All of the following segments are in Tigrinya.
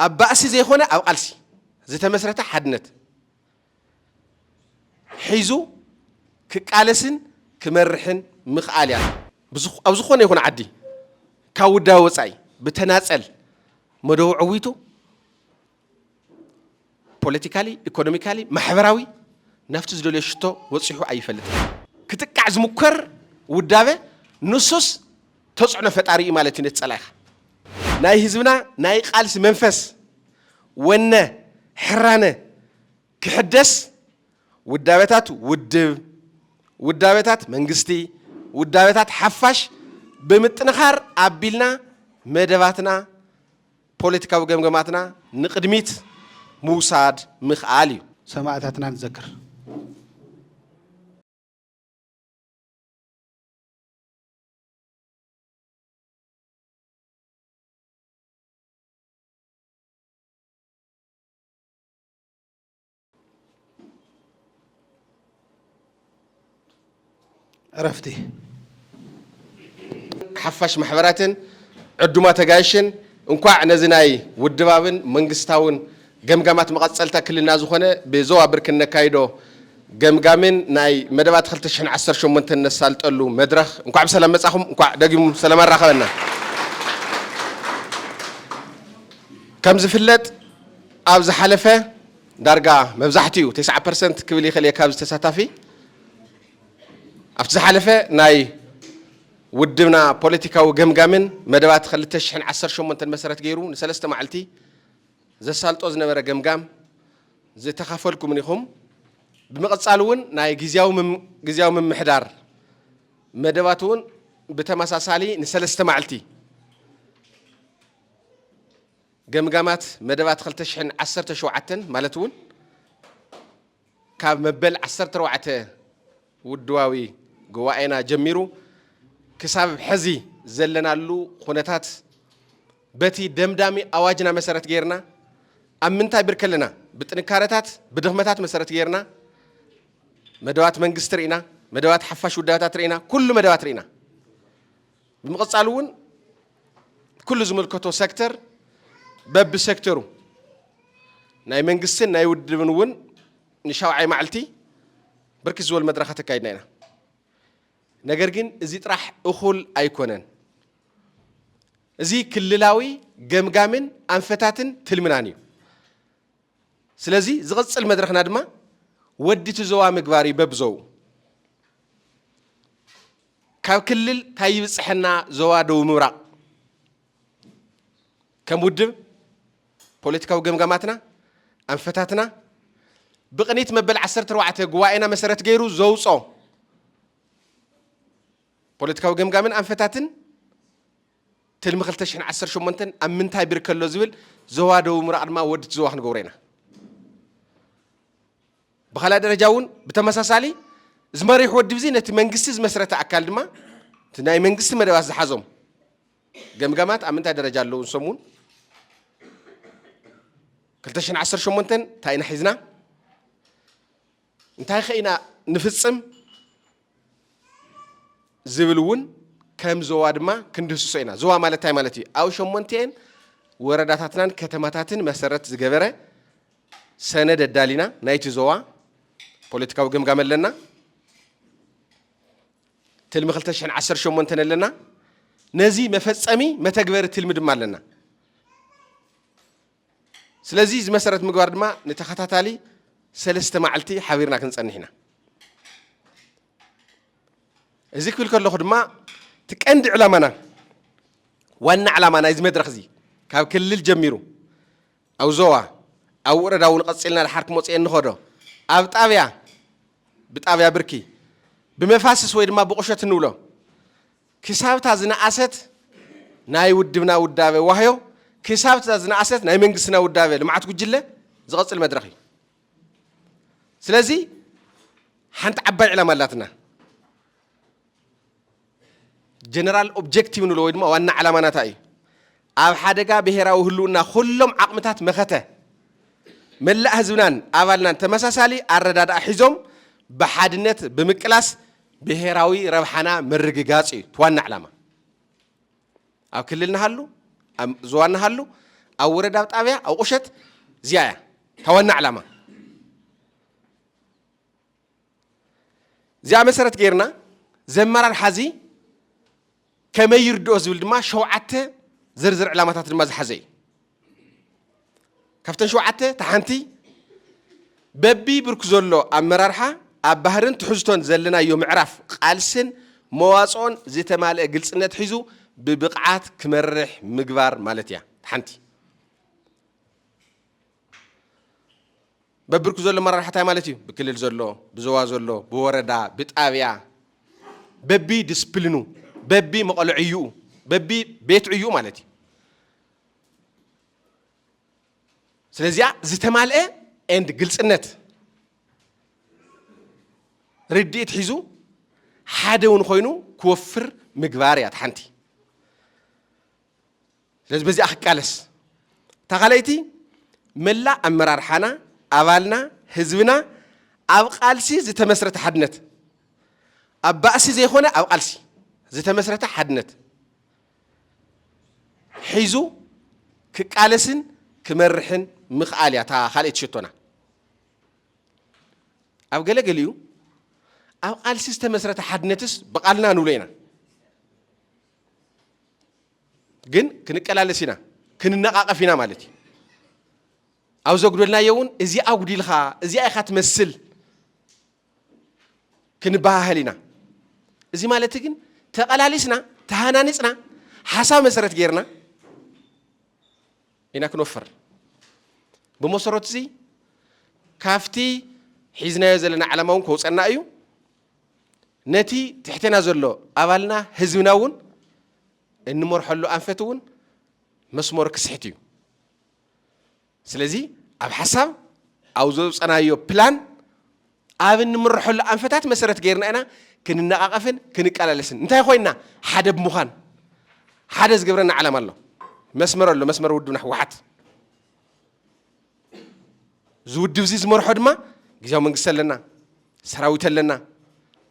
ኣብ ባእሲ ዘይኮነ ኣብ ቃልሲ ዝተመስረተ ሓድነት ሒዙ ክቃለስን ክመርሕን ምኽኣል እያ። ኣብ ዝኾነ ይኹን ዓዲ ካብ ውዳበ ወፃኢ ብተናፀል መደቡ ዕዊቱ ፖለቲካሊ፣ ኢኮኖሚካሊ፣ ማሕበራዊ ናብቲ ዝደልዮ ሽቶ በፂሑ ኣይፈልጥን። ክጥቃዕ ዝሙከር ውዳበ ንሱስ ተፅዕኖ ፈጣሪ እዩ ማለት እዩ ነቲ ፀላኢኻ። ናይ ህዝብና ናይ ቃልሲ መንፈስ፣ ወነ፣ ሕራነ ክሕደስ ውዳበታት ውድብ፣ ውዳበታት መንግስቲ፣ ውዳበታት ሓፋሽ ብምጥንኻር ኣቢልና መደባትና፣ ፖለቲካዊ ገምገማትና ንቕድሚት ምውሳድ ምኽኣል እዩ። ሰማእታትና ንዘክር! ዕረፍቲ ሓፋሽ ማሕበራትን ዕዱማት ኣጋይሽን እንኳዕ ነዚ ናይ ውድባብን መንግስታውን ገምጋማት መቐፀልታ ክልልና ዝኾነ ብዞባ ብርኪ እነካይዶ ገምጋምን ናይ መደባት 2018 እነሳልጠሉ መድረኽ እንኳዕ ብሰላም መፃኹም፣ እንኳዕ ደጊሙ ሰላም ኣራኸበና። ከም ዝፍለጥ ኣብ ዝሓለፈ ዳርጋ መብዛሕቲኡ ተስዓ ፐርሰንት ክብል ይኽእል እየ ካብዚ ተሳታፊ ኣብቲ ዝሓለፈ ናይ ውድብና ፖለቲካዊ ገምጋምን መደባት ክልተ ሽሕን ዓሰርተ ሸሞንተን መሰረት ገይሩ ንሰለስተ ማዕልቲ ዘሳልጦ ዝነበረ ገምጋም ዝተኻፈልኩምን ኢኹም። ብምቕጻል እውን ናይ ግዝያዊ ምምሕዳር መደባት እውን ብተመሳሳሊ ንሰለስተ ማዕልቲ ገምጋማት መደባት ክልተ ሽሕን ዓሰርተ ሸውዓተን ማለት እውን ካብ መበል ዓሰርተ ኣርባዕተ ውድባዊ ጉባኤና ጀሚሩ ክሳብ ሕዚ ዘለናሉ ኩነታት በቲ ደምዳሚ ኣዋጅና መሰረት ገይርና ኣብ ምንታይ ብርኪ ኣለና ብጥንካረታት ብድኽመታት መሰረት ገይርና መደባት መንግስቲ ርኢና መደባት ሓፋሽ ውዳበታት ርኢና ኩሉ መደባት ርኢና ብምቕፃል እውን ኩሉ ዝምልከቶ ሴክተር በቢ ሴክተሩ ናይ መንግስትን ናይ ውድብን እውን ንሻውዓይ ማዕልቲ ብርክት ዝበሉ መድረኻት ኣካይድና ኢና ነገር ግን እዚ ጥራሕ እኹል ኣይኮነን። እዚ ክልላዊ ገምጋምን ኣንፈታትን ትልምናን እዩ። ስለዚ ዝቕፅል መድረኽና ድማ ወዲ ትዘዋ ምግባር እዩ በብዘው ካብ ክልል ታይ ይብፅሐና ዞባ ደቡብ ምብራቕ ከም ውድብ ፖለቲካዊ ገምጋማትና ኣንፈታትና ብቕኒት መበል ዓሰርተ ኣርባዕተ ጉባኤና መሰረት ገይሩ ዘውፆ ፖለቲካዊ ገምጋምን ኣንፈታትን ትልሚ 2018 ኣብ ምንታይ ብርከ ኣሎ ዝብል ዞባ ደቡብ ምብራቕ ድማ ወድቲ ዞባ ክንገብሮ ኢና ብኻልኣይ ደረጃ እውን ብተመሳሳሊ እዚ መሪሕ ወድብ እዚ ነቲ መንግስቲ ዝመስረተ ኣካል ድማ እቲ ናይ መንግስቲ መደባት ዝሓዞም ገምጋማት ኣብ ምንታይ ደረጃ ኣለዉ ንሶም እውን 218 እንታይ ኢና ሒዝና እንታይ ከ ኢና ንፍፅም ዝብል እውን ከም ዞባ ድማ ክንድህስሶ ኢና። ዞባ ማለት እንታይ ማለት እዩ? ኣብ ሸሞንቲኤን ወረዳታትናን ከተማታትን መሰረት ዝገበረ ሰነድ ኣዳሊና ናይቲ ዞባ ፖለቲካዊ ገምጋም ኣለና። ትልሚ 2018 ኣለና። ነዚ መፈጸሚ መተግበሪ ትልሚ ድማ ኣለና። ስለዚ እዚ መሰረት ምግባር ድማ ንተኸታታሊ ሰለስተ መዓልቲ ሓቢርና ክንጸንሕ ኢና። እዚ ክብል ከለኹ ድማ እቲ ቀንዲ ዕላማና ዋና ዕላማ ናይዚ መድረኽ እዚ ካብ ክልል ጀሚሩ ኣብ ዞባ ኣብ ወረዳ እውን ቀፂልና ድሓር ክመፅኦ እንኸዶ ኣብ ጣብያ ብጣብያ ብርኪ ብመፋስስ ወይ ድማ ብቑሸት እንብሎ ክሳብ እታ ዝነኣሰት ናይ ውድብና ውዳበ ዋህዮ ክሳብ እታ ዝነኣሰት ናይ መንግስትና ውዳበ ልምዓት ጉጅለ ዝቐፅል መድረኽ እዩ። ስለዚ ሓንቲ ዓባይ ዕላማ ኣላትና ጀነራል ኦብጀክቲቭ ንብሎ ወይ ድማ ዋና ዕላማና እንታይ እዩ? ኣብ ሓደጋ ብሄራዊ ህልውና ኩሎም ዓቕምታት መኸተ መላእ ህዝብናን ኣባልናን ተመሳሳሊ ኣረዳድኣ ሒዞም ብሓድነት ብምቅላስ ብሄራዊ ረብሓና ምርግጋፅ እዩ እቲ ዋና ዕላማ። ኣብ ክልል ንሃሉ፣ ኣብ ዞባ ንሃሉ፣ ኣብ ወረዳ፣ ኣብ ጣብያ፣ ኣብ ቁሸት እዚኣ እያ እታ ዋና ዕላማ። እዚኣ መሰረት ገይርና ዘመራርሓ እዚ ከመይ ይርድኦ ዝብል ድማ ሸውዓተ ዝርዝር ዕላማታት ድማ ዝሓዘ እዩ ካብተን ሸውዓተ ተሓንቲ በቢ ብርኩ ዘሎ ኣመራርሓ ኣብ ባህርን ትሕዝቶን ዘለናዮ ምዕራፍ ቃልስን መዋፅኦን ዝተማልአ ግልፅነት ሒዙ ብብቕዓት ክመርሕ ምግባር ማለት እያ ሓንቲ በብርኩ ዘሎ መራርሓ እንታይ ማለት እዩ? ብክልል ዘሎ፣ ብዞባ ዘሎ፣ ብወረዳ፣ ብጣብያ፣ በቢ ድስፕልኑ፣ በቢ መቐሎ ዕዩኡ፣ በቢ ቤት ዕዩኡ ማለት እዩ። ስለዚኣ ዝተማልአ ኤንድ ግልፅነት ርድኢት ሒዙ ሓደ እውን ኮይኑ ክወፍር ምግባር እያ እቲ ሓንቲ ስለዚ በዚኣ ክቃለስ እታ ካልኣይቲ መላእ ኣመራርሓና ኣባልና ህዝብና ኣብ ቃልሲ ዝተመስረተ ሓድነት ኣብ ባእሲ ዘይኮነ ኣብ ቃልሲ ዝተመስረተ ሓድነት ሒዙ ክቃለስን ክመርሕን ምኽኣል እያ እታ ካልኣይቲ ሸቶና ኣብ ገለገሊኡ ኣብ ቃልሲ ዝተመስረተ ሓድነትስ ብቓልና ንብሎ ኢና ግን ክንቀላለስ ኢና ክንነቃቀፍ ኢና ማለት እዩ ኣብ ዘጉደልናዮ እውን እዚ ኣጉዲልካ እዚኣ ኢኻ ትመስል ክንበሃህል ኢና እዚ ማለት ግን ተቐላሊስና ተሃናኒፅና ሓሳብ መሰረት ጌርና ኢና ክንወፍር ብመሰረቱ እዚ ካፍቲ ሒዝናዮ ዘለና ዓላማ እውን ከውፀና እዩ ነቲ ትሕቴና ዘሎ ኣባልና ህዝብና እውን እንመርሐሉ ኣንፈት እውን መስመሩ ክስሕት እዩ። ስለዚ ኣብ ሓሳብ ኣብ ዘውፀናዮ ፕላን ኣብ እንምርሐሉ ኣንፈታት መሰረት ገይርና ኢና ክንነቓቐፍን ክንቀላለስን እንታይ ኮይና ሓደ ብምዃን ሓደ ዝገብረና ዓላማ ኣሎ መስመር ኣሎ መስመር ውድብና ህወሓት እዚ ውድብ እዚ ዝመርሖ ድማ ግዜያዊ መንግስቲ ኣለና፣ ሰራዊት ኣለና፣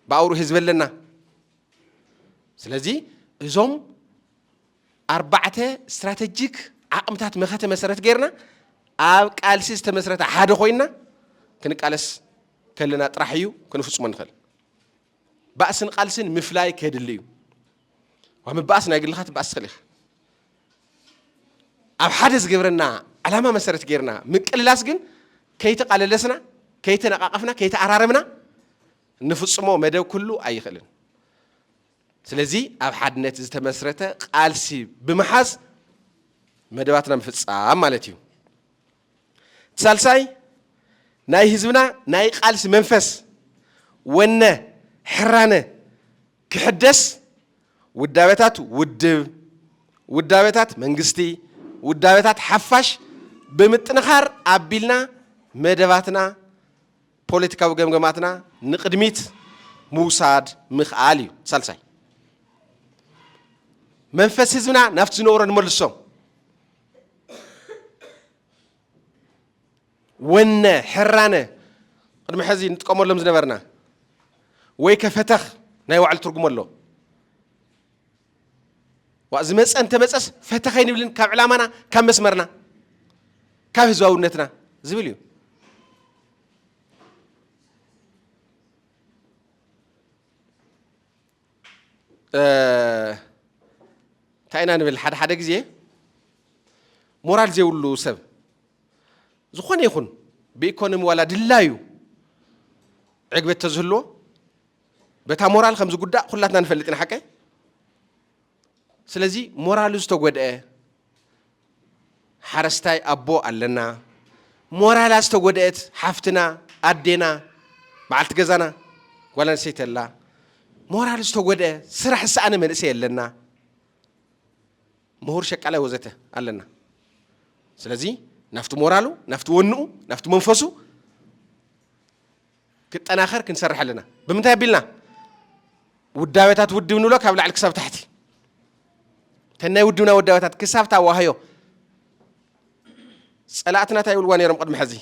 ብኣውሩ ህዝቢ ኣለና። ስለዚ እዞም ኣርባዕተ ስትራተጂክ ዓቕምታት መኸተ መሰረት ገይርና ኣብ ቃልሲ ዝተመስረተ ሓደ ኮይና ክንቃለስ ከለና ጥራሕ እዩ ክንፍፅሞ ንኽእል። ባእስን ቃልስን ምፍላይ ከድሊ እዩ። ዋብ ምባእስ ናይ ግልኻ ትባእስ ትኽእል ኢኻ። ኣብ ሓደ ዝገብረና ዕላማ መሰረት ጌርና ምቅልላስ ግን ከይተቓለለስና፣ ከይተነቓቐፍና፣ ከይተኣራረምና ንፍጽሞ መደብ ኩሉ ኣይኽእልን። ስለዚ ኣብ ሓድነት ዝተመስረተ ቃልሲ ብምሓዝ መደባትና ምፍጻም ማለት እዩ። እቲ ሳልሳይ ናይ ህዝብና ናይ ቃልሲ መንፈስ፣ ወነ፣ ሕራነ ክሕደስ ውዳበታት ውድብ፣ ውዳበታት መንግስቲ፣ ውዳበታት ሓፋሽ ብምጥንኻር ኣቢልና መደባትና፣ ፖለቲካዊ ገምገማትና ንቕድሚት ምውሳድ ምኽኣል እዩ። ሳልሳይ መንፈስ ህዝብና ናብቲ ዝነበሮ ንመልሶ። ወነ፣ ሕራነ፣ ቅድሚ ሕዚ ንጥቀመሎም ዝነበርና ወይከ ፈተኽ ናይ ባዕሉ ትርጉም ኣሎ። ዋእ ዝመፀ እንተመፀስ ፈተኽ ኣይንብልን ካብ ዕላማና ካብ መስመርና ካብ ህዝባውነትና ዝብል እዩ። እንታይ ኢና ንብል ሓደ ሓደ ግዜ ሞራል ዘይብሉ ሰብ ዝኾነ ይኹን ብኢኮኖሚ ዋላ ድላዩ ዕግበት ተዝህልዎ በታ ሞራል ከም ዝጉዳእ ኩላትና ንፈልጥ ኢና ሓቀይ ስለዚ ሞራሉ ዝተጎድኤ ሓረስታይ ኣቦ ኣለና፣ ሞራላ ዝተጎድኤት ሓፍትና ኣዴና በዓልቲ ገዛና ጓል ኣንስተይቲ ኣላ፣ ሞራሉ ዝተጎድኤ ስራሕ ዝሰኣነ መንእሰይ ኣለና፣ ምሁር ሸቃላይ ወዘተ ኣለና። ስለዚ ናብቲ ሞራሉ ናብቲ ወንኡ ናብቲ መንፈሱ ክጠናኸር ክንሰርሕ ኣለና። ብምንታይ ኣቢልና? ውዳበታት ውድብ ንብሎ ካብ ላዕሊ ክሳብ ታሕቲ ተን ናይ ውድብና ውዳበታት ክሳብ ታዋህዮ ጸላእትና እንታይ ይብልዋ ነይሮም ቅድሚ ሕዚ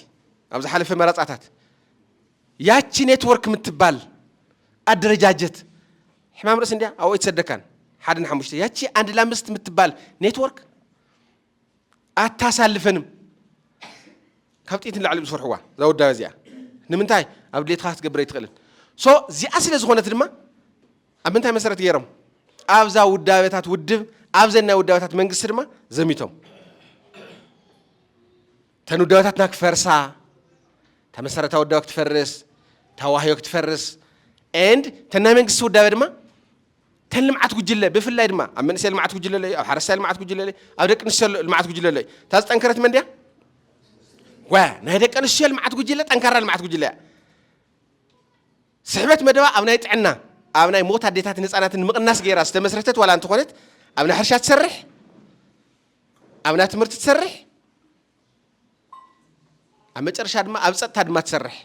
ኣብ ዝሓለፈ መረፃታት ያቺ ኔትወርክ የምትባል ኣደረጃጀት ሕማም ርእሲ እንዲያ ኣብኡ ኣይትሰደካን ሓደ ንሓሙሽተ ያቺ ኣንድ ላምስት የምትባል ኔትወርክ ኣታሳልፈንም ካብ ጥይት ንላዕሊ እዮም ዝፈርሕዋ እዛ ወዳበ እዚኣ ንምንታይ ኣብ ድሌትካ ክትገብር ኣይትኽእልን ሶ እዚኣ ስለ ዝኾነት ድማ ኣብ ምንታይ መሰረት ገይሮም ኣብዛ ውዳበታት ውድብ ኣብዘን ናይ ውዳበታት መንግስቲ ድማ ዘሚቶም እተን ውዳበታትና ክፈርሳ እታ መሰረታዊ ውዳበ ክትፈርስ እታ ዋህዮ ክትፈርስ ኤንድ እተን ናይ መንግስቲ ውዳበ ድማ ተን ልምዓት ጉጅለ ብፍላይ ድማ ኣብ መንእሰይ ልምዓት ጉጅለ ኣሎ እዩ፣ ኣብ ሓረስታይ ልምዓት ጉጅለ ኣሎ እዩ፣ ኣብ ደቂ ኣንስትዮ ልምዓት ጉጅለ ኣሎ እዩ። እታ ዝጠንከረት መን ድያ? ጓያ ናይ ደቂ ኣንስትዮ ልምዓት ጉጅለ ጠንካራ ልምዓት ጉጅለ እያ። ስሕበት መደባ ኣብ ናይ ጥዕና ኣብ ናይ ሞት ኣዴታትን ህፃናትን ምቕናስ ገይራ ዝተመስረተት ዋላ እንተኾነት ኣብ ናይ ሕርሻ ትሰርሕ ኣብ ናይ ትምህርቲ ትሰርሕ ኣብ መጨረሻ ድማ ኣብ ፀጥታ ድማ ትሰርሕ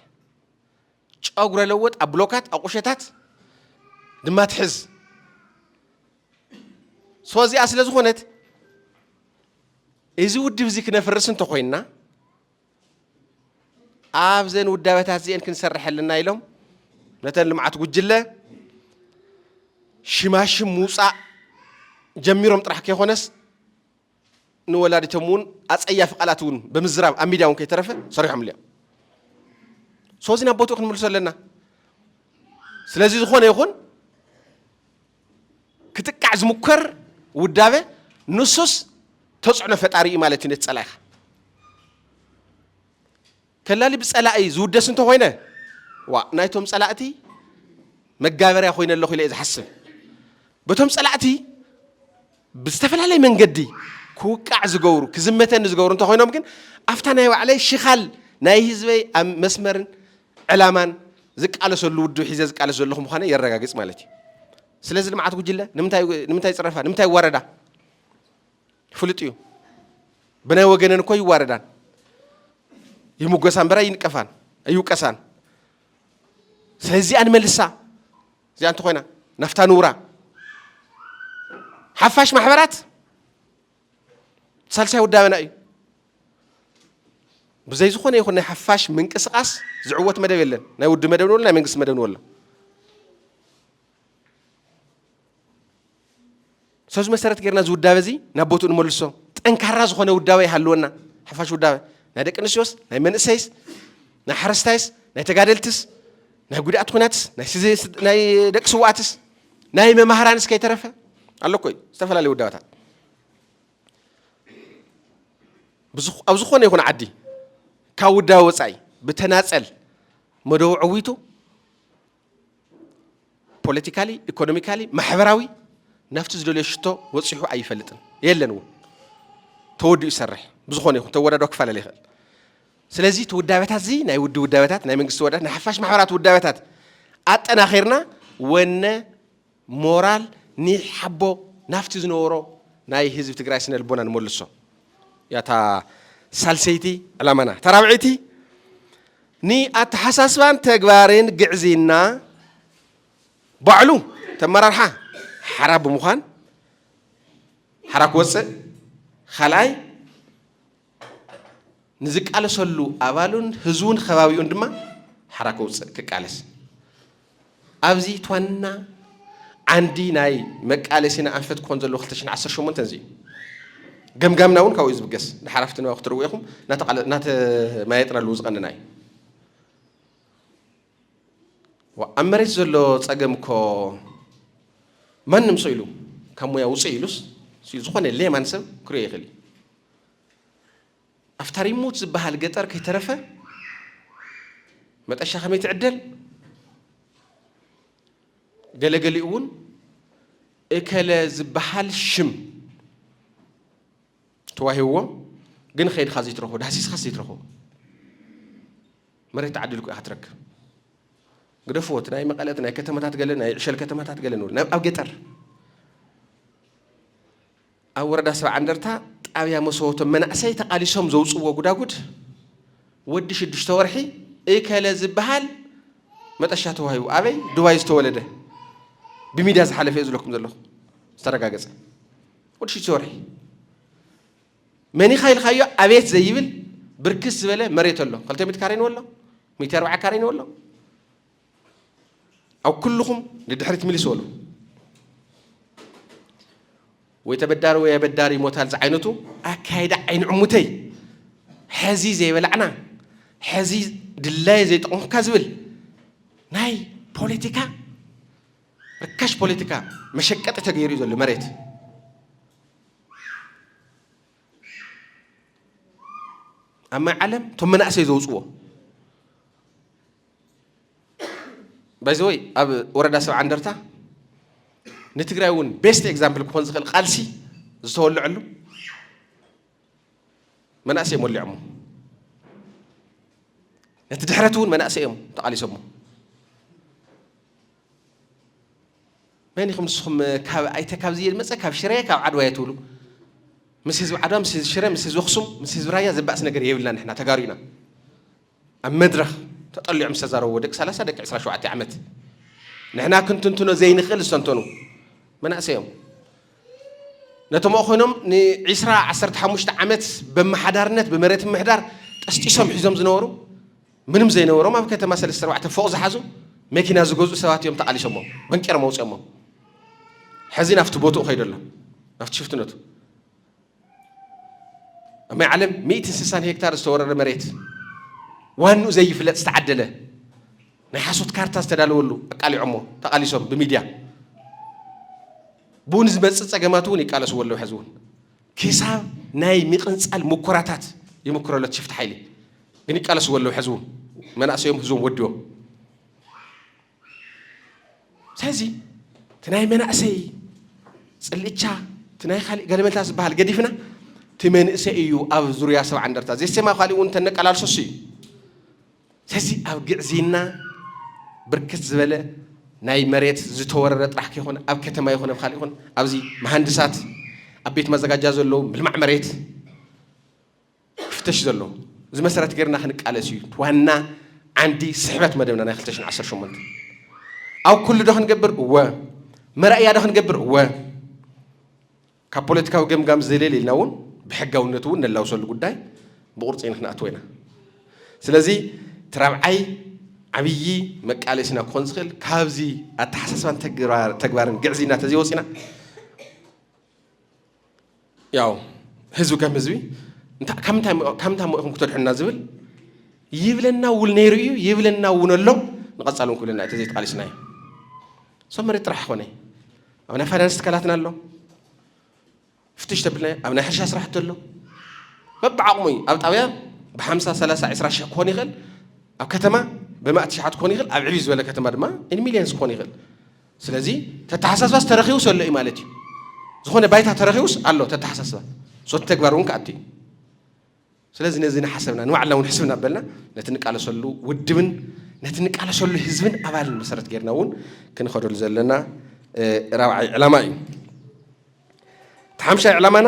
ጨጉረ ለወጥ ኣብ ብሎካት ኣብ ቁሸታት ድማ ትሕዝ ሶ እዚኣ ስለ ዝኾነት እዚ ውድብ እዚ ክነፍርስ እንተኾይንና ኣብዘን ውዳበታት እዚአን ክንሰርሕ ኣለና ኢሎም ነተን ልምዓት ጉጅለ ሽማሽም ምውፃእ ጀሚሮም ጥራሕ ከይኮነስ ንወላዲቶም እውን ኣፀያፊ ቃላት እውን ብምዝራብ ኣብ ሚድያ እውን ከይተረፈ ሰሪሖምሉ እዮም ሶዚ ናብ ቦትኡ ክንምልሶ ኣለና ስለዚ ዝኾነ ይኹን ክጥቃዕ ዝሙከር ውዳበ ንሱስ ተፅዕኖ ፈጣሪ እዩ ማለት እዩ ነቲ ፀላኢኻ ከላሊ ብጸላኢ ዝውደስ እንተ ኾይነ፣ ዋእ ናይቶም ጸላእቲ መጋበርያ ኮይነ ኣለኹ ኢለ እየ ዝሓስብ። በቶም ጸላእቲ ብዝተፈላለየ መንገዲ ክውቃዕ ዝገብሩ፣ ክዝመተኒ ዝገብሩ እንተ ኾይኖም ግን፣ ኣብታ ናይ ባዕለይ ሽኻል ናይ ህዝበይ ኣብ መስመርን ዕላማን ዝቃለሰሉ ውድብ ሒዘ ዝቃለስ ዘለኹ ምዃነይ የረጋግጽ ማለት እዩ። ስለዚ ልምዓት ጉጅለ ንምንታይ ይጽረፋ? ንምንታይ ይዋረዳ? ፍሉጥ እዩ። ብናይ ወገነን እኮ ይዋረዳን ይሙጎሳ እምበር ኣይንቀፋን ኣይውቀሳን። ስለዚ እዚኣ ንመልሳ እዚኣ እንተኾይና ናፍታ ንውራ ሓፋሽ ማሕበራት ሳልሳይ ውዳበና እዩ። ብዘይ ዝኾነ ይኹን ናይ ሓፋሽ ምንቅስቓስ ዝዕወት መደብ የለን። ናይ ውድ መደብ ንበሎ ናይ መንግስቲ መደብ ንበሎ ሰዚ መሰረት ጌርና እዚ ውዳበ እዚ ናብ ቦትኡ ንመልሶ ጠንካራ ዝኾነ ውዳበ ይሃልወና ሓፋሽ ውዳበ ናይ ደቂ ኣንስትዮስ ናይ መንእሰይስ ናይ ሓረስታይስ ናይ ተጋደልትስ ናይ ጉዳእት ኩናትስ ናይ ደቂ ስዋኣትስ ናይ መማህራንስ ከይተረፈ ኣሎ ኮይ ዝተፈላለዩ ውዳበታት ኣብ ዝኾነ ይኹን ዓዲ ካብ ውዳበ ወፃኢ ብተናፀል መደቡ ዕዊቱ ፖለቲካሊ ኢኮኖሚካሊ ማሕበራዊ ናብቲ ዝደልዮ ሽቶ ወፂሑ ኣይፈልጥን የለን እውን ተወዲኡ ይሰርሕ ብዝኾነ ይኹን ተወዳዶ ክፈላለ ይኽእል ስለዚ እቲ ውዳበታት እዚ ናይ ውዲ ውዳበታት ናይ መንግስቲ ወዳት ናይ ሓፋሽ ማሕበራት ውዳበታት ኣጠናኺርና ወነ ሞራል ኒሕ ሓቦ ናብቲ ዝነበሮ ናይ ህዝቢ ትግራይ ስነ ልቦና ንመልሶ እያ እታ ሳልሰይቲ ዕላማና። እታ ራብዐይቲ ንኣተሓሳስባን ተግባርን ግዕዝይና ባዕሉ እቲ ኣመራርሓ ሓራ ብምዃን ሓራ ክወፅእ፣ ኻልኣይ ንዝቃለሰሉ ኣባሉን ህዝቡን ኸባቢኡን ድማ ሓራ ከውፅእ ክቃለስ ኣብዚ ትዋና ዓንዲ ናይ መቃለሲና ኣንፈት ክኾን ዘለዎ 218 እዚ እዩ ገምጋምና እውን ካብኡ ዝብገስ ንሓራፍቲ ንባብ ክትርዎ ኢኹም ናተማየጥናሉ ዝቐንና እዩ ኣብ መሬት ዘሎ ፀገም እኮ ማንም ሰው ኢሉ ካብ ሙያ ውፅእ ኢሉስ ዝኾነ ሌማን ሰብ ክሪኦ ይኽእል እዩ ኣብታ ሪሞት ዝበሃል ገጠር ከይተረፈ መጠሻ ከመይ ትዕደል ገለገሊኡ እውን እከለ ዝበሃል ሽም ተዋሂብዎ ግን ከይድካ ዘይትረኽቦ ዳህሲስካስ ዘይትረኽቦ መሬት ተዓዲልኩ ኢኻ ትረክብ ግደፍዎት ናይ መቐለት ናይ ከተማታት ገለ ናይ ዕሸል ከተማታት ገለ ንብል ኣብ ገጠር ኣብ ወረዳ ሰብዓ እንደርታ ጣብያ መሰወቶ መናእሰይ ተቓሊሶም ዘውፅእዎ ጉዳጉድ ወዲ ሽዱሽተ ወርሒ እከለ ዝበሃል መጠሻ ተዋሂቡ ኣበይ ዱባይ ዝተወለደ ብሚድያ ዝሓለፈ እዩ ዝለኩም ዘለኹ ዝተረጋገፀ ወዲ ሽዱሽተ ወርሒ መኒኻ ኢልካዮ ኣቤት ዘይብል ብርክስ ዝበለ መሬት ኣሎ ክልተ ሚእቲ ካሬ ንወሎ ሚእቲ ኣርባዓ ካሬ ንወሎ ኣብ ኩልኹም ንድሕሪት ምልስ በሉ። ወይ ተበዳሪ ወይ ኣበዳሪ ይሞታል ዝዓይነቱ ኣካይዳ ዓይንዕሙተይ ሕዚ ዘይበላዕና ሕዚ ድላየ ዘይጠቕምካ ዝብል ናይ ፖለቲካ ርካሽ ፖለቲካ መሸቀጢ ተገይሩ እዩ ዘሎ መሬት ኣብ ማይ ዓለም እቶም መናእሰይ ዘውፅዎ ባይዘወይ ኣብ ወረዳ ሰብዓ እንደርታ ንትግራይ እውን ቤስት ኤግዛምፕል ክኾን ዝኽእል ቃልሲ ዝተወልዐሉ መናእሰይ እዮም ወሊዖሞ ነቲ ድሕረት እውን መናእሰይ እዮም ተቓሊሶሞ መን ኢኹም ንስኹም ካብ ኣይተ ካብዚ ዝመፀ ካብ ሽረ ካብ ዓድዋ እየ ትብሉ ምስ ህዝቢ ዓድዋ ምስ ህዝቢ ሽረ ምስ ህዝቢ ኣኽሱም ምስ ህዝቢ ራያ ዘባእስ ነገር የብልና ንሕና ተጋሩ ኢና ኣብ መድረኽ ተጠሊዖም ዝተዛረብዎ ደቂ ሰላሳ ደቂ ዕስራ ሸውዓተ ዓመት ንሕና ክንትንትኖ ዘይንኽእል ዝተንተኑ መናእሰይ እዮም። ነቶም ኣብኡ ኮይኖም ንዒስራ ዓሰርተ ሓሙሽተ ዓመት በመሓዳርነት ብመሬት ምሕዳር ጠስጢሶም ሒዞም ዝነበሩ ምንም ዘይነበሮም ኣብ ከተማ ሰለስተ ኣርባዕተ ፎቕ ዝሓዙ መኪና ዝገዝኡ ሰባት እዮም ተቓሊሶሞ በንቄሮም ኣውፅኦሞ ሕዚ ናብቲ ቦትኡ ከይዶ ኣሎ ናብቲ ሽፍትነቱ ኣብ ናይ ዓለም ሚእትን ስሳን ሄክታር ዝተወረረ መሬት ዋንኡ ዘይፍለጥ ዝተዓደለ ናይ ሓሶት ካርታ ዝተዳለወሉ ኣቃሊዖሞ ተቓሊሶም ብሚድያ ብኡ ንዝመፅእ ፀገማት እውን ይቃለስዎ ኣለዉ ሕዚ እውን ክሳብ ናይ ምቕንፃል ሙኮራታት ይምክሮ ኣሎ ሽፍቲ ሓይሊ ግን ይቃለስዎ ኣለዉ ሕዚ እውን መናእሰዮም ህዝቦም ወዲቦም ስለዚ እቲ ናይ መናእሰይ ፅልእቻ እቲ ናይ ካሊእ ገለመልታ ዝበሃል ገዲፍና እቲ መንእሰይ እዩ ኣብ ዙርያ ሰብዓ እንደርታ ዘሴማ ካሊእ እውን ተነቀላልሶስ እዩ ስለዚ ኣብ ግዕዝይና ብርክት ዝበለ ናይ መሬት ዝተወረረ ጥራሕ ከይኮነ ኣብ ከተማ ይኹን ኣብ ካልእ ይኹን ኣብዚ መሃንድሳት ኣብ ቤት ማዘጋጃ ዘለዉ ምልማዕ መሬት ክፍተሽ ዘለዎ እዚ መሰረት ገርና ክንቃለስ እዩ ዋና ዓንዲ ስሕበት መደብና ናይ 2018 ኣብ ኩሉ ዶ ክንገብር እወ መራእያ ዶ ክንገብር እወ ካብ ፖለቲካዊ ገምጋም ዝደልየል ኢልና እውን ብሕጋውነቱ እውን ነላውሰሉ ጉዳይ ብቁርፂ ንክንኣትዎ ኢና ስለዚ እቲ ራብዓይ ዓብዪ መቃለሲና ክኾን ዝኽእል ካብዚ ኣተሓሳስባን ተግባርን ግዕዝይና ተዘይወፂና ያው ህዝቢ ከም ህዝቢ ካብ ምንታይ ሞኢኹም ክተድሕና ዝብል ይብለና እውን ነይሩ እዩ ይብለና እውን ኣሎ ንቐፃሊ እውን ክብለና እዩ ተዘይተቓሊስና እዩ እሶም መሬት ጥራሕ ኮነ ኣብ ናይ ፋይናንስ ትካላትና ኣሎ ፍትሽ ተብልና ኣብ ናይ ሕርሻ ስራሕቲ ኣሎ በብዓቕሙ እዩ ኣብ ጣብያ ብሓምሳ ሰላሳ ዕስራ ሽሕ ክኾን ይኽእል ኣብ ከተማ ብማእቲ ሸሓት ክኾን ይኽእል ኣብ ዕብዩ ዝበለ ከተማ ድማ ኢን ሚሊየንስ ክኾን ይኽእል ስለዚ ተተሓሳስባስ ተረኺቡስ ኣሎ እዩ ማለት እዩ። ዝኾነ ባይታ ተረኺቡስ ኣሎ ተተሓሳስባ ሶቲ ተግባር እውን ክኣቱ እዩ። ስለዚ ነዚ ንሓሰብና ንባዕልና እውን ሕስብ እናበልና ነቲ ንቃለሰሉ ውድብን ነቲ ንቃለሰሉ ህዝብን ኣባልን መሰረት ጌርና እውን ክንኸደሉ ዘለና ራብዓይ ዕላማ እዩ። እቲ ሓምሻይ ዕላማና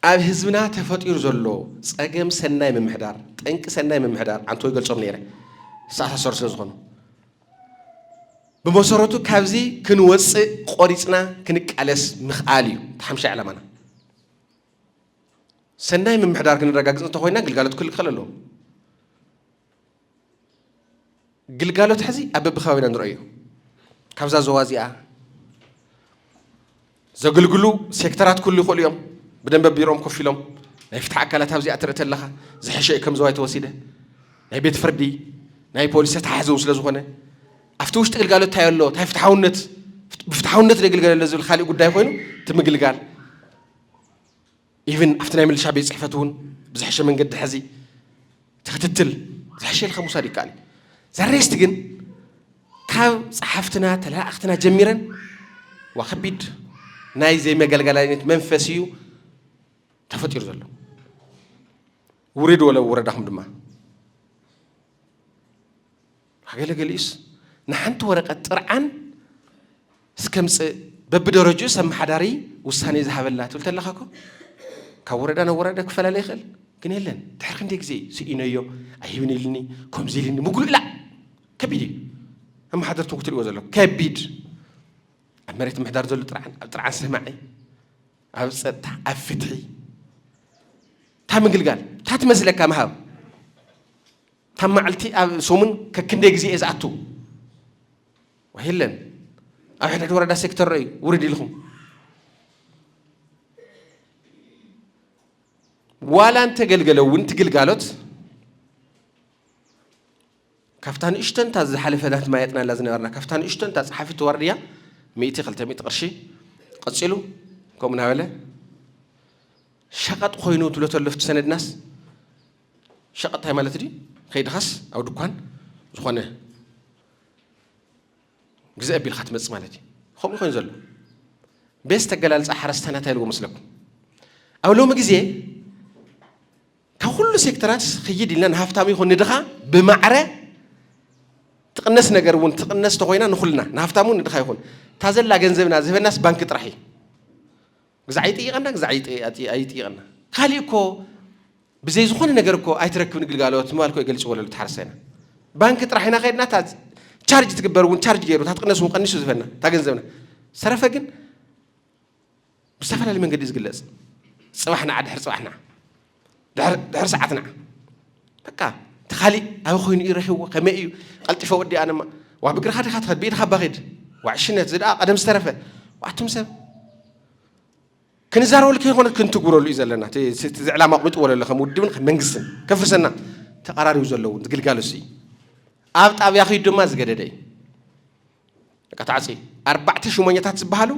ኣብ ህዝብና ተፈጢሩ ዘሎ ጸገም ሰናይ ምምሕዳር፣ ጠንቂ ሰናይ ምምሕዳር ዓንተቦ ይገልጾም ነይረ፣ ዝተኣሳሰሩ ስለ ዝኾኑ ብመሰረቱ ካብዚ ክንወፅእ ቆሪፅና ክንቃለስ ምኽኣል እዩ እቲ ሓምሻይ ዕላማና። ሰናይ ምምሕዳር ክንረጋግፅ እንተኮይና ግልጋሎት ክልከል ኣለዎ። ግልጋሎት ሕዚ ኣብ በብከባቢና ንረእዮ ካብዛ ዞባ እዚኣ ዘገልግሉ ሴክተራት ኩሉ ይኽእሉ እዮም ብደንበ ቢሮኦም ኮፍ ኢሎም ናይ ፍትሒ ኣካላት ኣብዚኣ ትርኢ ተለኻ ዝሐሸ እዩ ከም ዘዋይ ተወሲደ ናይ ቤት ፍርዲ ናይ ፖሊስ ተተሓሕዘ እውን ስለዝኾነ ኣብቲ ውሽጢ ግልጋሎት እንታይ ኣሎ እንታይ ፍትሓውነት ብፍትሓውነት ንግልገለለ ዝብል ካልእ ጉዳይ ኮይኑ እቲ ምግልጋል ኢቭን ኣብቲ ናይ ምልሻ ቤት ፅሕፈት እውን ብዝሐሸ መንገዲ ሐዚ እቲ ክትትል ዝሐሸ ኢልካ ምውሳድ ይከኣል እዩ ዘሬስት ግን ካብ ፀሓፍትና ተለኣእኽትና ጀሚረን ዋ ከቢድ ናይ ዘይመገልገላይነት መንፈስ እዩ ተፈጢሩ ዘሎ ውሪድ ወለ ወረዳኹም ድማ ገለ ገሊኡስ ንሓንቲ ወረቐት ጥርዓን እስከምጽእ በብደረጅኡስ ኣመሓዳሪ ውሳኔ ዝሃበላ ትብል ተለኻ እኮ ካብ ወረዳ ናብ ወረዳ ክፈላለ ይኽእል ግን የለን ድሕሪ ክንደይ ግዜ እዩ ስኢነዮ ኣይህብን ኢልኒ ከምዚ ኢልኒ ምጉልላ ከቢድ እዩ ኣመሓደርትን ክትሪእዎ ዘለኩም ከቢድ ኣብ መሬት ምሕዳር ዘሎ ጥርዓን ኣብ ጥርዓን ሰማዒ ኣብ ፀጥታ ኣብ ፍትሒ እታ ምግልጋል እታ ትመስለካ ምሃብ እታ መዓልቲ ኣብ ሰሙን ከክንደይ ግዜ እየ ዝኣቱ ዋይ የለን ኣብ ሕድሕድ ወረዳ ሴክተር ረዩ ውርድ ኢልኹም ዋላ እንተገልገለ እውን እቲ ግልጋሎት ካብታ ንእሽተንታ ዝሓለፈ ናት ማየጥናላ ዝነበርና ካብታ ንእሽተንታ ፀሓፊት ዋርድያ ሚእቲ ክልተ ሚእቲ ቅርሺ ቀፂሉ ከምኡ እናበለ ሸቐጥ ኮይኑ ትብሎ ተለፍቲ ሰነድናስ ሸቀጥ ታይ ማለት ድዩ ከይድኻስ ኣብ ድኳን ዝኾነ ግዝእ ኣቢልካ ትመጽእ ማለት እዩ ከምኡ ኮይኑ ዘሎ ቤስ ተገላልፃ ሓረስታይና እንታይ ኢልዎ መስለኩም ኣብ ሎሚ ግዜ ካብ ኩሉ ሴክተራት ክይድ ኢልና ንሃፍታም ይኹን ንድኻ ብማዕረ ትቕነስ ነገር እውን ትቕነስ ተኾይና ንኹልና ንሃፍታም እውን ንድኻ ይኹን እታ ዘላ ገንዘብና ዝህበናስ ባንኪ ጥራሕ እዩ ግዛዕ ይጥይቐና ግዛዕ ኣይጥይቐና ካሊእ እኮ ብዘይ ዝኾነ ነገር እኮ ኣይትረክብን ግልጋሎት ምባል እኮ ይገልፅዎ ለሉ ተሓርሰና ባንኪ ጥራሕ ኢና ከድና እታ ቻርጅ ትግበር እውን ቻርጅ ገይሩ እታ ትቕነስ እውን ቀኒሱ ዝበና እታ ገንዘብና ሰረፈ ግን ብዝተፈላለየ መንገዲ እዩ ዝግለፅ ፅባሕና ዓድሕር ፅባሕና ድሕሪ ሰዓት ንዓ በቃ እቲ ካሊእ ኣበይ ኮይኑ እዩ ረኪብዎ ከመይ እዩ ቀልጢፈ ወዲኣ ድማ ዋ ብግርካ ዲካ ትኸድ ብኢድካ እባ ኪድ ዋ ዕሽነት እዚ ደኣ ቀደም ዝተረፈ ዋኣቱም ሰብ ክንዛረበሉ ከይኮነ ክንትግብረሉ እዩ ዘለና እቲ ዕላማ ኣቕሚጥዎ ዘሎ ከም ውድብን ከም መንግስትን ከፍርሰና ተቐራሪቡ ዘለውን ግልጋሎት እዩ ኣብ ጣብያ ክዩ ድማ ዝገደደ እዩ በቃ ተዓጽዩ። ኣርባዕተ ሹመኛታት ዝበሃሉ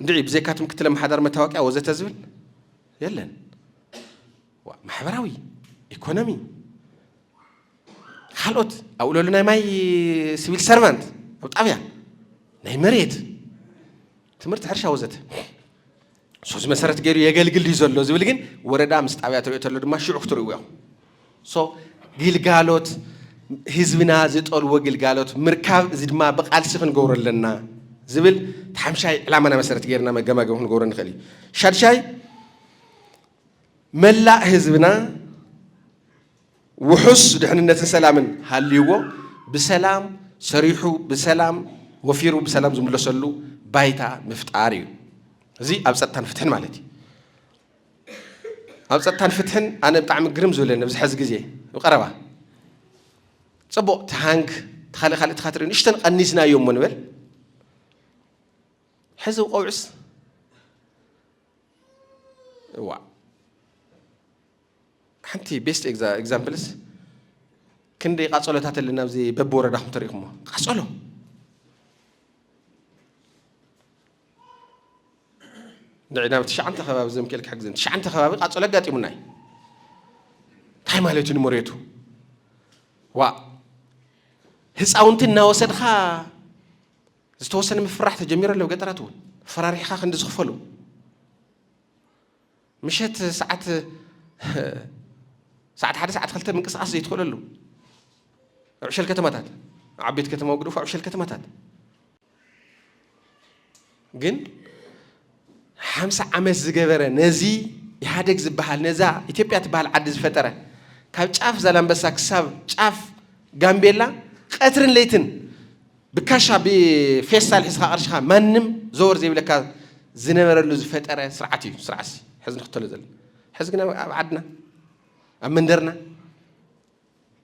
እንድዒ ብዘይካ እቲ ምክትል ኣመሓዳሪ መታወቅያ ወዘተ ዝብል የለን። ዋ፣ ማሕበራዊ ኢኮኖሚ ካልኦት ኣብኡ ለሉ ናይ ማይ ሲቪል ሰርቫንት ኣብ ጣብያ ናይ መሬት ትምህርቲ ሕርሻ ወዘተ ሶስ መሰረት ገይሩ የገልግል ድዩ ዘሎ ዝብል ግን ወረዳ ምስ ጣብያ ትሪኦ ተሎ ድማ ሽዑ ክትርእዎ ኢኹም ሶ ግልጋሎት ህዝብና ዝጠልዎ ግልጋሎት ምርካብ እዚ ድማ ብቃልሲ ክንገብሮ ኣለና ዝብል ሓምሻይ ዕላማና መሰረት ገይርና መገማገሚ ክንገብሮ ንኽእል እዩ ሻድሻይ መላእ ህዝብና ውሑስ ድሕንነትን ሰላምን ሃልይዎ ብሰላም ሰሪሑ ብሰላም ወፊሩ ብሰላም ዝምለሰሉ ባይታ ምፍጣር እዩ። እዚ ኣብ ፀጥታን ፍትሕን ማለት እዩ። ኣብ ፀጥታን ፍትሕን ኣነ ብጣዕሚ ግርም ዝብለኒ ኣብዚ ሕዚ ግዜ ብቀረባ ፅቡቕ ትሃንግ ተኻልእ ካልእ ትኻትርኢ ንእሽተን ቀኒስናዮ እሞ ንበል ሕዚ ቆብዕስ እዋ ሓንቲ ቤስት ኤግዛምፕልስ ክንደይ ቃጸሎታት ኣለና ኣብዚ በብወረዳኹም ተሪእኹሞ ቃጸሎ ንዕና ኣብ ትሽዓንተ ከባቢ ዘምክኤል ክሕግዘን ትሽዓንተ ከባቢ ቃጸሎ ኣጋጢሙና እዩ እንታይ ማለት እዩ ንመሬቱ ዋ ህፃውንቲ እናወሰድካ ዝተወሰነ ምፍራሕ ተጀሚሩ ኣሎ ገጠራት እውን ፈራሪሕካ ክንዲ ዝኽፈሉ ምሸት ሰዓት ሰዓት ሓደ ሰዓት ክልተ ምንቅስቓስ ዘይትኽእለሉ ኣብ ዕሸል ከተማታት ኣብ ዓበይቲ ከተማ ግደፉ ኣብ ዕሸል ከተማታት ግን ሓምሳ ዓመት ዝገበረ ነዚ ኢህኣደግ ዝበሃል ነዛ ኢትዮጵያ ትበሃል ዓዲ ዝፈጠረ ካብ ጫፍ ዛላምበሳ ክሳብ ጫፍ ጋምቤላ ቀትርን ለይትን ብካሻ ብፌስታል ሒዝኻ ቅርሽኻ ማንም ዘወር ዘይብለካ ዝነበረሉ ዝፈጠረ ስርዓት እዩ ስርዓትሲ ሕዚ ንኽተሎ ዘለና ሕዚ ግን ኣብ ዓድና ኣብ መንደርና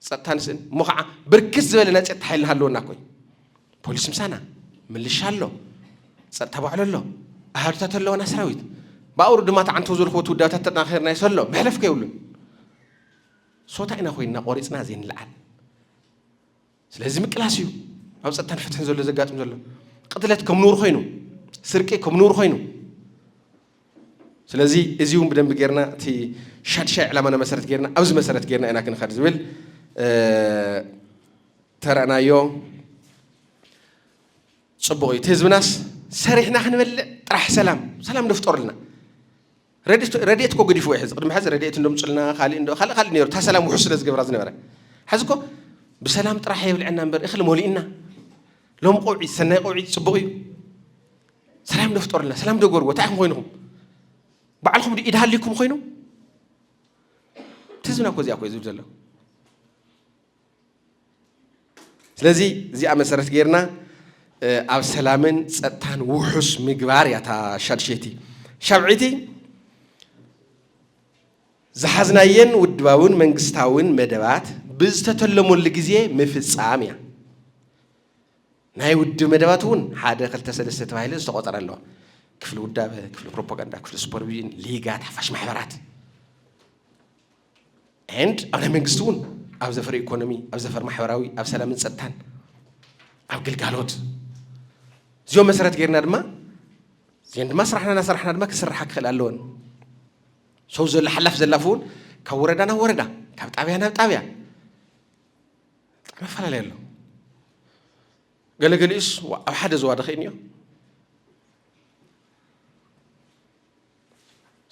ፀጥታ ንስእን እሞ ከዓ ብርክት ዝበለ ናይ ፀጥታ ሓይልና ሃለወና ኮይ ፖሊስ ምሳና ምልሻ ኣሎ ፀጥታ ባዕሎ ኣሎ ኣሃዱታት ኣለዋና ሰራዊት ብኣውሩ ድማ ተዓንተው ዝልክዎ ትውዳታት ተጠናኺርና ይሰሎ መሕለፍ ከይብሉን ሶታ ኢና ኮይንና ቆሪፅና ዘይንልዓል ስለዚ ምቅላስ እዩ ኣብ ፀጥታን ፍትሕን ዘሎ ዘጋጥም ዘሎ ቅትለት ከም ንውር ኮይኑ ስርቂ ከም ንውር ኮይኑ ስለዚ እዚ እውን ብደንቢ ጌርና እቲ ሻድሻይ ዕላማና መሰረት ጌርና ኣብዚ መሰረት ጌርና ኢና ክንኸድ ዝብል ተረእናዮ ፅቡቕ እዩ እቲ ህዝብናስ ሰሪሕና ክንበልዕ ጥራሕ ሰላም ሰላም ደፍጠሩልና ረድኤት እኮ ገዲፍዎ እዩ ሕዚ ቅድሚ ሕዚ ረድኤት እንዶ ምፁልና ካሊእ እንዶ ካልእ ካልእ ነይሩ እታ ሰላም ውሑስ ስለ ዝገበራ ዝነበረ ሕዚ እኮ ብሰላም ጥራሕ የብልዐና እምበር እኽሊ ሞሊእና ሎም ቆውዒ ሰናይ ቆውዒ ፅቡቕ እዩ ሰላም ዶ ፍጠሩልና ሰላም ዶ ገርዎ እንታይ ኢኹም ኮይንኹም ባዕልኹም ዶ ኢድ ሃሊኩም ኮይኑ እቲ ህዝብና እኮ እዚኣ እኮ እዩ ዝብል ዘሎ ስለዚ እዚኣ መሰረት ጌርና ኣብ ሰላምን ፀጥታን ውሑስ ምግባር እያ እታ ሻድሸይቲ ሻብዒቲ ዝሓዝናየን ውድባውን መንግስታውን መደባት ብዝተተለመሉ ግዜ ምፍፃም እያ ናይ ውድብ መደባት እውን ሓደ ክልተ ሰለስተ ተባሂለ ዝተቆፀረ ኣለዋ ክፍሊ ውዳበ ክፍሊ ፕሮፓጋንዳ ክፍሊ ሱፐርቪዥን ሊጋት ሓፋሽ ማሕበራት ኤንድ ኣብ ናይ መንግስቲ እውን ኣብ ዘፈር ኢኮኖሚ ኣብ ዘፈር ማሕበራዊ ኣብ ሰላምን ፀጥታን ኣብ ግልጋሎት እዚኦም መሰረት ገይርና ድማ እዚን ድማ ስራሕና እናሰራሕና ድማ ክስራሓ ክኽእል ኣለወን ሰው ዘሎ ሓላፍ ዘላፍ እውን ካብ ወረዳ ናብ ወረዳ ካብ ጣብያ ናብ ጣብያ ብጣዕሚ ኣፈላለየ ኣሎ ገለገሊኡስ ኣብ ሓደ ዘዋደ ክእን እዮ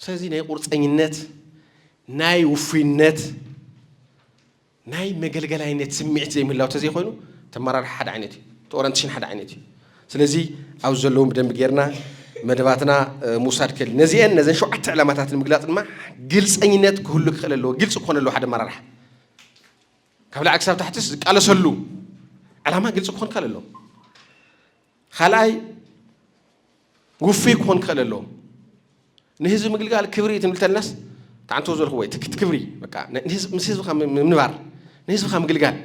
ስለዚ ናይ ቁርፀኝነት፣ ናይ ውፉይነት፣ ናይ መገልገላይነት ስምዒት ዘይምህላው ተዘይኮይኑ እቲ ኣመራርሓ ሓደ ዓይነት እዩ፣ እቲ ኦረንትሽን ሓደ ዓይነት እዩ። ስለዚ ኣብዚ ዘለዉ ብደንቢ ጌርና መደባትና ምውሳድ ክእል። ነዚአን ነዘን ሸውዓተ ዕላማታት ንምግላፅ ድማ ግልፀኝነት ክህሉ ክኽእል ኣለዎ፣ ግልፂ ክኾን ኣለዎ ሓደ ኣመራርሓ ካብ ላዕሊ ክሳብ ታሕትስ ዝቃለሰሉ ዕላማ ግልፂ ክኾን ክእል ኣለዎ። ኻልኣይ ውፍይ ክኾን ክኽእል ኣለዎ። ንህዝቢ ምግልጋል ክብሪ እዩ ትምልተልናስ ተዓንቶ ዘልክዎ እዩ ትክት ክብሪ በቃ ምስ ህዝብኻ ምንባር ንህዝብኻ ምግልጋል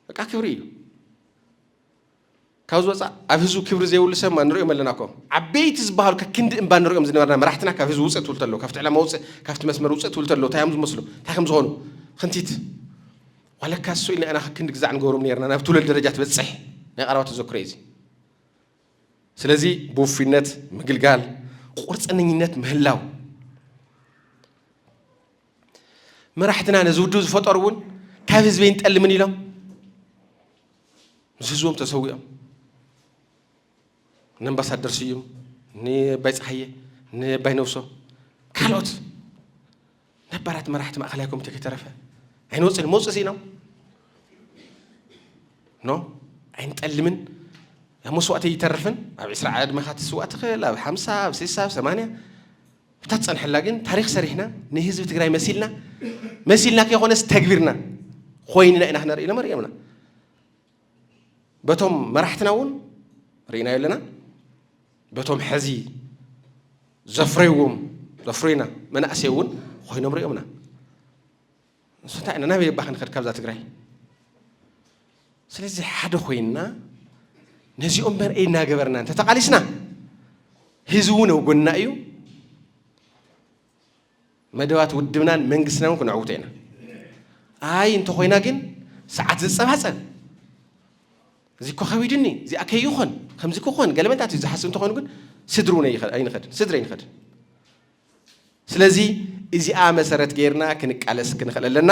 በቃ ክብሪ እዩ። ካብ ዝወፃእ ኣብ ህዝቡ ክብሪ ዘይብሉ ሰብማ ንሪኦም ኣለና እኮ ዓበይቲ ዝበሃሉ ከክንዲ እምባ ንሪኦም ዝነበርና መራሕትና ካብ ህዝቢ ውፅእ ትብሉ ተለዉ ካብቲ ዕላማ ውፅእ ካብቲ መስመር ውፅእ ትብሉ ተለዉ እንታይ እዮም ዝመስሉ እንታይ ከም ዝኾኑ ክንቲት ዋላካ እሱ ኢልና ኢና ክንዲ ግዛዕ ንገብሮም ነርና ናብ ትውለድ ደረጃ ትበፅሕ ናይ ቀረባ ተዘክሮ እዩ እዚ ስለዚ ብውፍይነት ምግልጋል ቁርፀነኝነት ምህላው መራሕትና ነዚ ውድብ ዝፈጠሩ እውን ካብ ህዝቢ ይንጠልምን ኢሎም ምስ ህዝቦም ተሰዊኦም ንኣምባሳደር ስዩም ንባይ ፀሓየ ንባይ ነብሶ ካልኦት ነባራት መራሕቲ ማእኸላይ ኮሚቴ ከይተረፈ ኣይንወፅን መውፅእ ስኢኖም ኖ ኣይንጠልምን ኣብ መስዋእቲ ይተርፍን ኣብ ዕስራ ዕድመኻ ትስዋእ ትኽእል ኣብ ሓምሳ ኣብ ስሳ ኣብ ሰማንያ እታ ትፀንሐላ ግን ታሪክ ሰሪሕና ንህዝቢ ትግራይ መሲልና መሲልና ከይኮነስ ተግቢርና ኮይንና ኢና ክነርኢ ኢሎም ኣርእዮምና በቶም መራሕትና እውን ርኢናዮ ኣለና በቶም ሕዚ ዘፍረይዎም ዘፍረዩና መናእሰይ እውን ኮይኖም ሪኦምና ንሱ እንታይ ኢና ናበይ እባ ክንኸድ ካብዛ ትግራይ ስለዚ ሓደ ኮይንና ነዚኦም መርአይ እናገበርና እንተተቓሊስና ህዝቢ እውን ኣብ ጎንና እዩ መደባት ውድብናን መንግስትናን ክነዕውቶ ኢና። ኣይ እንተኾይና ግን ሰዓት ዝጸባጸብ እዚ እኮ ከቢድኒ እዚኣ ከይኾን ከምዚ ክኾን ገለመንታት እዩ ዝሓስብ እንተኾይኑ ግን ስድሪ እውን ኣይንኸድን ስድሪ ኣይንኸድን ስለዚ እዚኣ መሰረት ገይርና ክንቃለስ ክንኽእል ኣለና።